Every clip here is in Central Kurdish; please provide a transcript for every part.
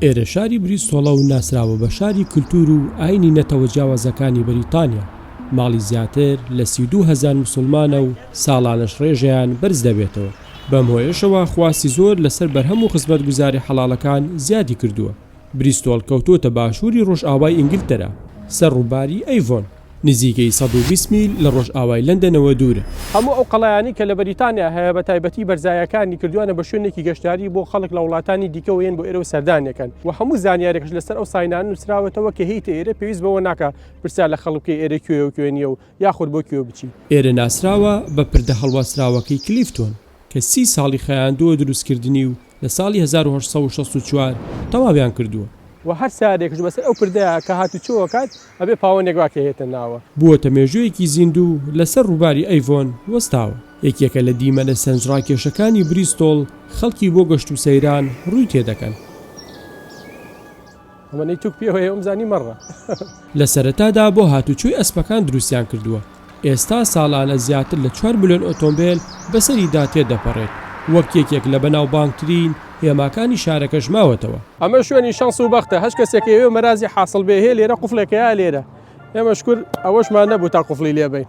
ئێرە شاری بریستۆڵە و ناسراوە بە شاری کلتور و ئاینی نەتەوە جیاوازەکانی بریتانیا، ماڵی زیاتر لە سی و دوو هەزار مسوڵمانە و ساڵانەش ڕێژەیان بەرز دەبێتەوە، بەم هۆیەشەوە خواستی زۆر لەسەر بەرهەم و خزمەتگوزاری حەڵاڵەکان زیادی کردووە، بریستۆڵ کەوتۆتە باشووری ڕۆژئاوای ئینگلتەرا، سەر ڕووباری ئەیڤۆن. نزیکەی سەد و بیست میل لە ڕۆژئاوای لەندەنەوە دوورە. هەموو ئەو قەڵایانەی کە لە بەریتانیا هەیە بە تایبەتی بەرزایەکانی کردوویانە بە شوێنێکی گەشتیاری بۆ خەڵک لە وڵاتانی دیکەوە یەن بۆ ئێرە و سەردانیەکەن و هەموو زانیارێکش لەسەر ئەو ساینانە نووسراوەتەوە کە هێیتە ئێرە پێویست بەوە ناکا پرسیار لە خەڵک بکەی ئێرە کوێیە و کوێ نییە و یاخود بۆ کوێ بچی. ئێرە ناسراوە بە پردە هەڵواسراوەکەی کلیفتۆن. کە سی ساڵی خایاندووە دروستکردنی و لە ساڵی هەزار و هەشت سەد و شەست و چوار تەواویان کردووە. وە هەر سارێکش بەسەر ئەو پردە کە هاتوچۆ ئەکات ئەبێ پاوەنێک واکەیێتە ناوە. بووەتە مێژوویەکی زیندوو لەسەر ڕووباری ئەیڤۆن وەستاوە. یەکێکە لە دیمەنە سەرنجڕاکێشەکانی بریستۆڵ، خەڵکی بۆ گەشت و سەیران ڕووی تێدەکەن. ئەمەنەی توک پێوە یە ومزانی مەڕە. لە سەرەتادا بۆ هاتوچۆی ئەسپەکان دروستیان کردووە ئێستا ساڵانە زیاتر لە چوار ملیۆن ئۆتۆمبێل بەسەریدا تێدەپەڕێت وەک یەکێک لە بەناوبانگترین هێماکانی شارەکەش ماوەتەوە. ئەمە شوێنی شەنس و بەختە هەچ کەسێک ئەیەوێ مەرازی حاسڵ بێ هەیە لێرە قوفڵێکەیە لێرە ئێمە شکور ئەوەشمان نەبوو تا قوفڵی لێبەین.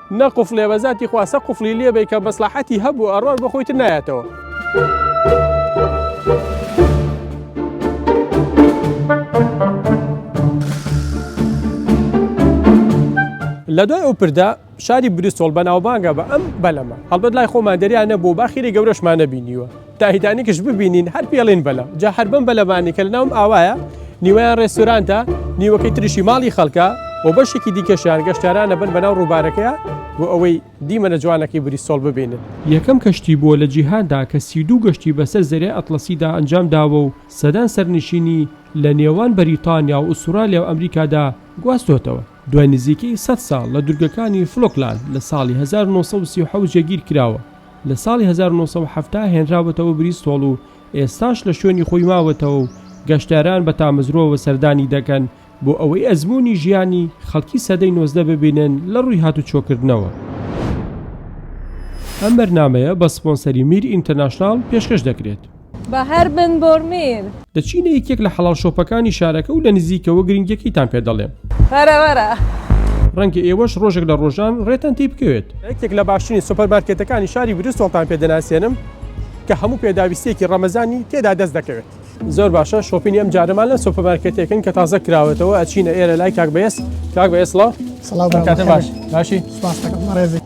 نە قفلێ بە زاتی خوا سە قفلی لێ بی کە مەسلحەتی هەبوو ئەڕۆر بۆ خۆیتر نایەتەوە. لە دوای ئەو پردە شاری بریستۆڵ بەناوبانگە بە ئەم بەلەمە هەڵبەت لای خۆمان دەریان نەبوو باخیری گەورەشمانە بینیوە تایتانیکش ببینین هەر پێڵین بەلە جا هەر بەم بەلەبانی کە لەناوم ئاوایە نیوەیان ڕێستورانتە نیوەکەی تریشی ماڵی خەڵکە و بەشێکی دیکەشیان گەشتارانە بن بەناو ڕووبارەکەیە بۆ ئەوەی دیمەنە جوانەکەی بریسۆڵ ببینن. یەکەم کەشتی بووە لە جیهاندا کە سی و دوو گەشتی بەسەر زەریای ئەتڵەسیدا ئەنجام داوە و سەدان سەرنشینی لە نێوان بەریتانیا و ئوسترالیا و ئەمریکادا گواستۆتەوە. دوای نزیکەی سەد ساڵ لە دورگەکانی فلۆکلاند لە ساڵی هەزار و نۆ سەد و سی و حەوت جێگیر کراوە لە ساڵی هەزار و نۆ سەد و حەفتا هێنراوەتەوە بریستۆڵ و ئێستاش لە شوێنی خۆی ماوەتەوە و گەشتیاران بە تامەزرۆوە سەردانی دەکەن بۆ ئەوەی ئەزموونی ژیانی خەڵکی سەدەی نۆزدە ببینن لە ڕووی هاتوچۆکردنەوە. ئەم بەرنامەیە بە سپۆنسەری میر ئینتەرناشناڵ پێشکەش دەکرێت. بە هەر بن بۆرمیر. دەچینە یەکێک لە حەڵاڵ شۆپەکانی شارەکە و لە نزیکەوە گرنگیەکەیتان پێ دەڵێم. وەرە وەرە. ڕەنگە ئێوەش ڕۆژێک لە ڕۆژان ڕێتان تێی بکەوێت. لە یەکێک لە باشترین سۆپەرمارکێتەکانی شاری بریستۆڵتان پێ دەناسێنم کە هەموو پێداویستییەکی ڕەمەزانی تێدا دەست دەکەوێت. زۆر باشە، شۆپینی ئەم جارەمان لە سۆپەرمارکێتێکن کە تازە کراوەتەوە، ئەچینە ئێرە لای کاک بەێز. کاک بەێز سڵاو. سڵاو برا. کاتە باش. باشی؟ سوپاس کاکە بەڕێزت.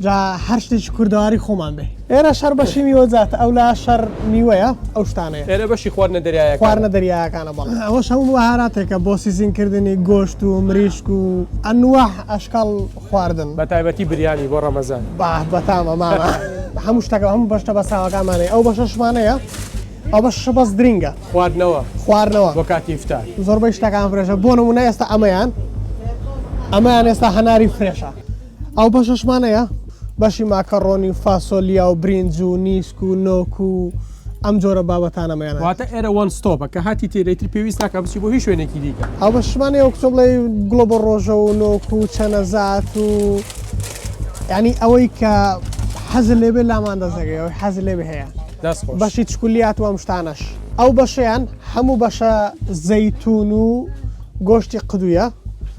جا هەر شتێکی کوردەواری خۆمان بێ ئێرە شەر بەشی میوە زیاتە ئەو لا شەر میوەیە ئەو شتانەیە ئێرە بەشی خواردنە دەریایە خواردنە دەریاکانە بەڵ ئەوەش هەموو بەهاراتێکە بۆ سیزینکردنی گۆشت و مریشک و ئەنوە ئەشکال خواردن بە تایبەتی بریانی بۆ ڕەمەزان با بەتامە مامە هەموو شتەکە هەموو بەشتە بە ساوەکانمانەیە ئەو بەشەشمانەیە ئەو بە شەبەز درینگە خواردنەوە خواردنەوە بۆ کاتی فتا زۆربەی شتەکان فرێژە بۆ نمونە ئێستا ئەمەیان ئەمەیان ئێستا هەناری فرێشە ئەو بەشەشمان هەیە بەشی ماکەڕۆنی و فاسۆلیا و برینج و نیسک و نۆک و ئەم جۆرە بابەتانەمەیان واتە ئێرە وان ستۆپە کە هاتی تێرەیتر پێویست ناکە بچی بۆ هیچ شوێنێکی دیکە ئەو بە شمانێ ئەو کتۆ بڵێ گڵۆ بۆ ڕۆژە و نۆک و چەنەزات و ینی ئەوەی کە حەز لێبێ لامان دەزەگەەوەی حەز لێ هەیە بەشی چکولیات و ئەمشتانەش ئەو بەشیان هەموو بەشە زەیتون و گۆشتی قدوە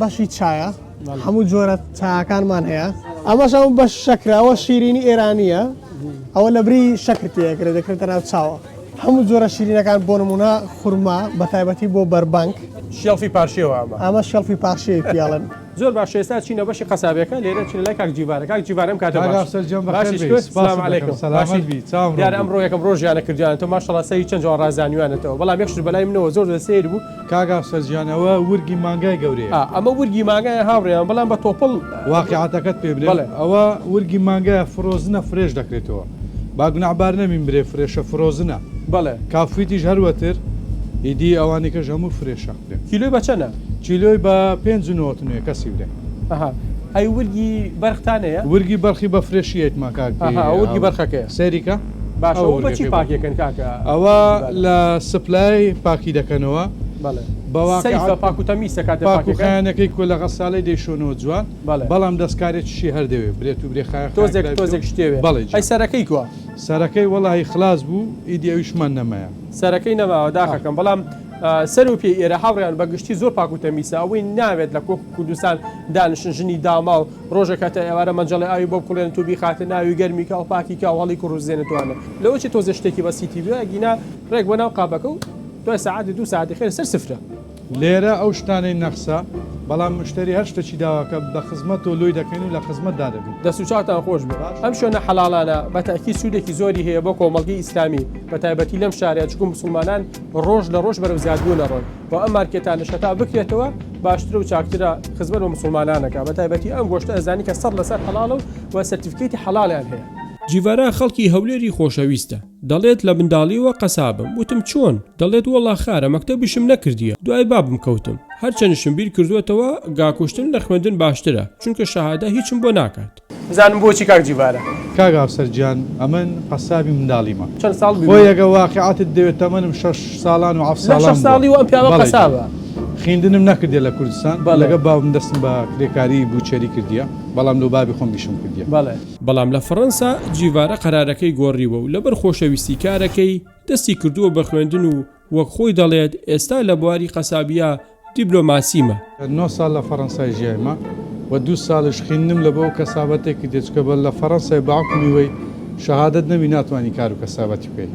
بەشی چایە هەموو جۆرە چاکانمان هەیە ئەمەش ئەو بە شەکراوە شیرینی ئێرانیە ئەوە لە بری شەکرتەکرێت دەکرێتە ناو چاوە هەموو جۆرە شیرینەکان بۆ نمونە خورما بە تایبەتی بۆ بەربانک شێڵفی پارشێوە ئەمە ئەمە شێڵفی پارشەیە پیاڵن زۆر باش ئێستا چینە بەشی قەسابەکە لێرە چین لای کاک جیوارە کاک جیوارم کاتە ئەمڕۆ یەکەم ڕۆژیانە کردیان تۆ ماشەڵا سەری چەند جوان ڕازانیوانێتەوە بەڵام یەکش بەلای منەوە زۆر سیر بوو کاک ئەفسەر جیان ئەوە ورگی مانگای گەورەیە. ئا ئەمە ورگی مانگایە هاوڕێیان بەڵام بە تۆپڵ. واقیعەتەکەت پێ بلێم بەڵێ. ئەوە ورگی مانگایە فرۆزنە فرێش دەکرێتەوە با گوناحبار نەبین برێ فرێشە فرۆزنە بەڵێ. کافویتیش هەر وەتر ئیدی ئەوانیکەش هەموو فرێشە خوێ. کیلۆی بە چەنە؟ کیلۆی بە پێنج و نەوەت و نۆێ کەسی برێ. ئەها ئەی ورگی بەرخ تانەیە؟ ورگی بەرخی بە فرێشی ئەیتما کاک ئەها ئەوە ورگی بەرخەکەیە. سەیری کە. باشە ئەوە بەچی پاکیەکەن کاکە ئەوە لە سپلای پاکی دەکەنەوە بەڵێ بەواقع سەیفە پاک و تەمیسە کاتێ پاک و پاکیەکە خایەنەکەی کۆ لە غەسالەی دەیشۆنەوە جوان بەڵێ. بەڵام دەستکارێکیشی هەر دەوێ برێت و برێ خایەن تۆزێک خایەن تۆزێک شتێوێ بەڵێ جا. ئەی سەرەکەی کوا سەرەکەی وەڵاهی خلاس بوو ئیدی ئەویشمان نەمایە سەرەکەی نەماوە داخەکەم بەڵام ئا، سەر و پێی ئێرە هاوڕێیان بە گشتی زۆر پاک و تەمیسە ئەوەی ناوێت لە کۆ کوردستان دانیشن ژنی داماو ڕۆژێک هەتا ئێوارە مەنجەڵی ئاوی بۆ بکوڵێنت و بیخاتە ناوی گەرمی کە و پاکی کە و هەڵی کوڕ و زێنت وانە لەوە چی تۆزێ شتێکی بەسیتی بوێ ئەگینا ڕێک بۆ ناو قابەکە و دوای سەعاتی دوو سەعاتی خێر سەر سفرە. لێرە ئەو شتانەی نەخسە بەڵام مشتەری هەر شتەکی داواکە بە خزمەت تۆ لۆی دەکەین و لە خزمەت دا دەبین. دەست و چاوتان خۆش بێ. ئەم شوێنە حەڵاڵانە بە تەئکید سوودێکی زۆری هەیە بۆ کۆمەڵگەی ئیسلامی بە تایبەتی لەم شارە چکو موسڵمانان ڕۆژ لە ڕۆژ بەرەو زیادبوونە ڕۆن. و ئەم مارکێتانەش هەتا بکرێتەوە باشترە و چاکترە خزمەت بە مسلمانانەکە بە تایبەتی ئەم گۆشتە ئەزانی کە سەد لەسەر حەڵاڵە و و سەرتیفکەیتی حەڵاڵیان هەیە. جیڤارا خەڵکی هەولێری خۆشەویستە دەڵێت لە منداڵیەوە قەسابم وتم چۆن؟ دەڵێت وەڵا خارە مەکتەبیشم نەکردیە دوای بابم کەوتم هەرچەنشم بیر کردوەتەوە گا کوشتن لە خوێندن باشترە چونکە شەهادە هیچم بۆ ناکات. بزانم بۆچی کاک جیڤارا. کاک ئافسەر گیان ئەمن قەسابی منداڵیمە چەند ساڵ بووی؟ خۆی ئەگە واقیعتت دەوێت تەمەنم شەش ساڵان و حەفت ساڵان بووە. شەش ساڵی و ئەم پیاوە قەسابە. خویندنم نەکردیە لە کوردستان لەگە باوکم دەستم بە کرێکاری بوچەری کردیە بەڵام لۆ بابی خۆم ئیشم کردیە. بەڵام لە فڕەنسا جیڤارا قەرارەکەی گۆڕیوە و لەبەر خۆشەویستی کارەکەی دەستی کردووە بە خوێندن و وەک خۆی دەڵێت، ئێستا لە بواری قەسابییە دیبلۆماسیمە. نۆ ساڵ لە فەڕەنسای ژیایمە و دوو ساڵیش خویندنم لە بۆ کەسابەتێ کردیە، چونکە بە لە فەڕەنسای بە حوکمی وەی شەهادەت نەبی ناتوانی کار و کەسابەتی بکەی.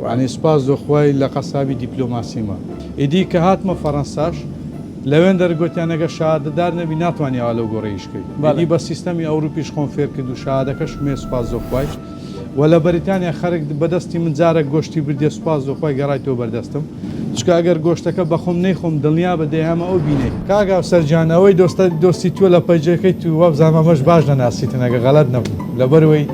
یانی سوپاس لۆ خوای لە قەسابی دیپلۆماسیمە. ئیدی کە هاتمە فەڕەنساش لەوێن دەرگوتیان ئەگەر شەهادەدار نەبی ناتوانی ئاوا لەو گۆڕێ ئیش کەی. ئیدی بە سیستەمی ئەوروپیش خۆم فێر کرد و شەهادەکەشم هەیە سوپاس لۆ خوای. وە لە بەریتانیا خەرک بە دەستی من جارەک گۆشتی بردیە سوپاس بۆ خۆی گەڕایتەوە بەردەستم چکە ئەگەر گۆشتەکە بەخۆم نەیخۆم دڵنیابە دەیهەمە ئەو بینەی. کاک هاوسەر گیان ئەوەی دۆستە دۆستی تۆ لە پەیجەکەی تو وابزانم ئەمەش باش دەناسیتن ئەگەر غەلەت نەبم لەبەروەی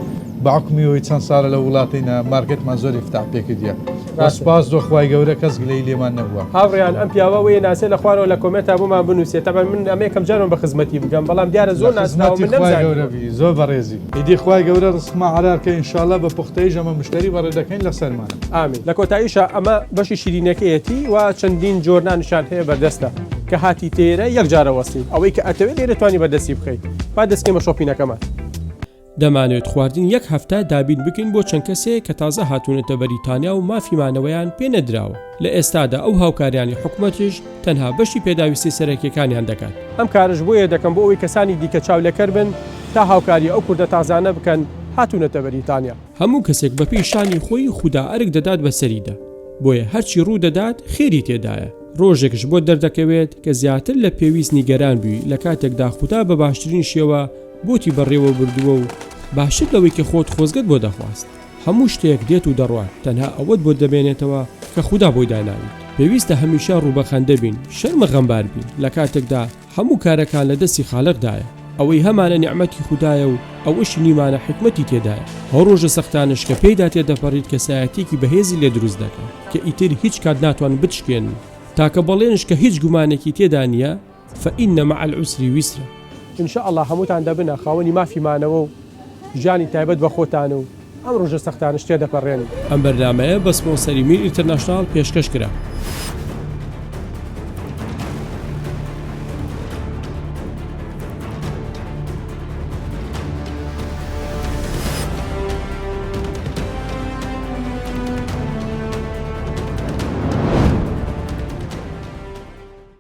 بە حوکمی ئەوەی چەند سالە لە ووڵاتەینە مارکێتمان زۆر ئیفتاح پێ کردیە وە سوپاس بۆ خوای گەورە کەس گلەیی لێمان نەبوە. هاوڕێیان ئەم پیاوە وەیە ناسێ لە خوارەوە لە کۆمێنتا بۆمان بنوسێ تەبعەن من ئەمە یەکەم جارمە بە خزمەتی بگەم بەڵام دیارە زۆر ناسراوە من نەمزانیوە. لەخزمەتی خوای گەورە بی زۆر بەڕێزی. ئیدی خوای گەورە ڕزقمان حەلال کە ئینشاڵا بە پوختەیش ئەمە مشتەری بەڕێ دەکەین لە سەرمانە. ئامین لە کۆتاییشا ئەمە بەشی شیرینەکەیەتی و چەندین جۆر نانیشیان هەیە بەردەستە کە هاتیت لێرە یەک جارە وەستین ئەوەی کە ئەتەوێت لێرە توانی بەردەستی بخەیت با دەستکەین بە شۆپینەکەمان. دەمانەوێت خواردنی یەک هەفتە دابین بکەین بۆ چەند کەسێک کە تازە هاتوونەتە بەریتانیا و مافی مانەوەیان پێ نەدراوە. لە ئێستادا ئەو هاوکاریانەی حکومەتیش تەنها بەشی پێداویستی سەرەکیەکانیان دەکات. ئەم کارەش بۆیە دەکەم بۆ ئەوەی کەسانی دیکە چاو لەکەر بن تا هاوکاری ئەو کوردە تازانە بکەن هاتونەتە بەریتانیا. هەموو کەسێک بە پێی شانی خۆی خودا ئەرک دەدات بە سەریدا بۆیە هەرچی ڕوو دەدات خێری تێدایە. ڕۆژێکش بۆت دەردەکەوێت کە زیاتر لە پێویست نیگەران بوی لە کاتێکدا خودا بە باشترین شێوە بۆتی بەڕێوە بردووە و باشتر لەوەی کە خۆت خۆزگەت بۆ دەخواست. هەموو شتێک دێت و دەڕوات تەنها ئەوەت بۆ دەمێنێتەوە کە خودا بۆی داناویت پێویستە هەمیشە ڕوو بەخەندە بین شەرمە غەمبار بین لەکاتێکدا هەموو کارەکان لە دەستی خالق دایە ئەوەی هەمانە نیعمەتی خودایە و ئەوەشی نیمانە حیکمەتی تێدایە ئەو ڕۆژە سەختانەش کە پێیدا تێدەپەڕیت کەسایەتیەکی بەهێزی لێ دروست دەکەن کە ئیتر هیچ کات ناتوانن بتشکێنن تاکە بەڵێنش کە هیچ گومانێکی تێدا نیە فإن مع العسر یسرا. ان شاء اللە هەمووتان دەبنە خاوەنی مافی مانەوە و ژیانی تایبەت بە خۆتان و ئەم ڕۆژە سەختانەش تێدەپەڕێن. ئەم بەرنامەیە بە سپۆنسەری میر ئینتەرناشناڵ پێشکەش کرا.